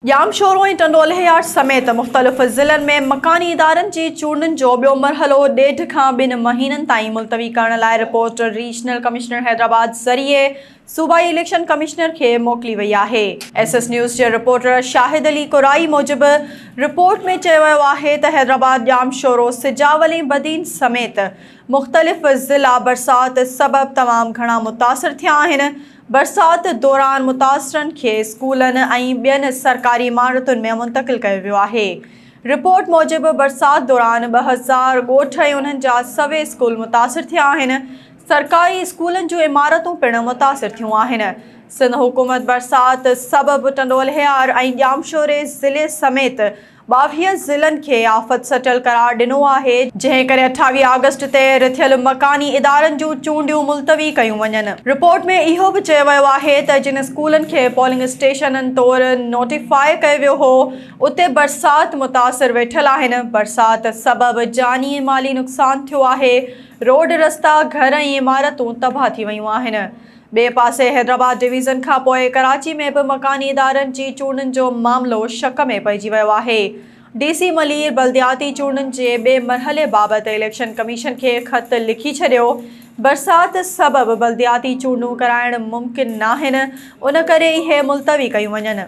ڄامشورو ۽ ٽنڊوالهيار سميت مختلف ضلعن ۾ مڪاني ادارن جي چونڊن جو ٻيو مرحلو ڏيڍ کان ٻن مهينن تائين ملتوي ڪرڻ لاء رپورٽ ريجنل ڪمشنر حيدرآباد ذريعي صوبائي اليڪشن ڪمشنر کي موڪلي وئي آهي. ايس ايس نيوز جي رپورٽر شاهد علي ڪورائي موجب رپورٽ ۾ چيو ويو آهي ته حيدرآباد، ڄامشورو، سجاول ۽ بدين سميت مختلف ضلعا برسات سبب تمام گهڻا متاثر ٿيا آهن، برسات دوران متاثرن کي اسڪولن ۽ ٻين سرڪاري عمارتن ۾ منتقل ڪيو ويو آهي. رپورٽ موجب برسات دوران ٻه هزار ڳوٺ ۽ انهن جا سوين اسڪول متاثر ٿيا آهن. سرڪاري اسڪولن جون عمارتون پڻ متاثر ٿيون آهن. سنڌ حڪومت برسات سبب ٽنڊو الهيار ۽ ڄامشوري ضلعي سميت ٻاويهه ضلعن کي آفت سٽل قرار ڏنو آهي، جنهن ڪري اٺاويهه آگسٽ تي رٿيل مڪاني ادارن جون چونڊيون ملتوي ڪيون وڃن. رپورٽ ۾ اهو به چيو ويو آهي ته جن اسڪولن کي پولنگ اسٽيشنن طور نوٽيفاء ڪيو ويو هو، اتي برسات متاثر ويٺل آهن، برسات سبب جاني ۽ مالي نقصان ٿيو آهي، روڊ رستا، گهر ۽ عمارتون تباهه ٿي ويون آهن. ٻئي پاسي حيدرآباد ڊويزن کانپوء ڪراچي ۾ به مڪاني ادارن جي چونڊن جو معاملو شڪ ۾ پئجي ويو آهي. ڊي سي ملير بلدياتي چونڊن جي ٻئي مرحلي بابت اليڪشن ڪميشن کي خط لکي ڇڏيو، برسات سبب بلدياتي چونڊون ڪرائڻ ممڪن ناهن، ان ڪري اهي ملتوي ڪيون وڃن.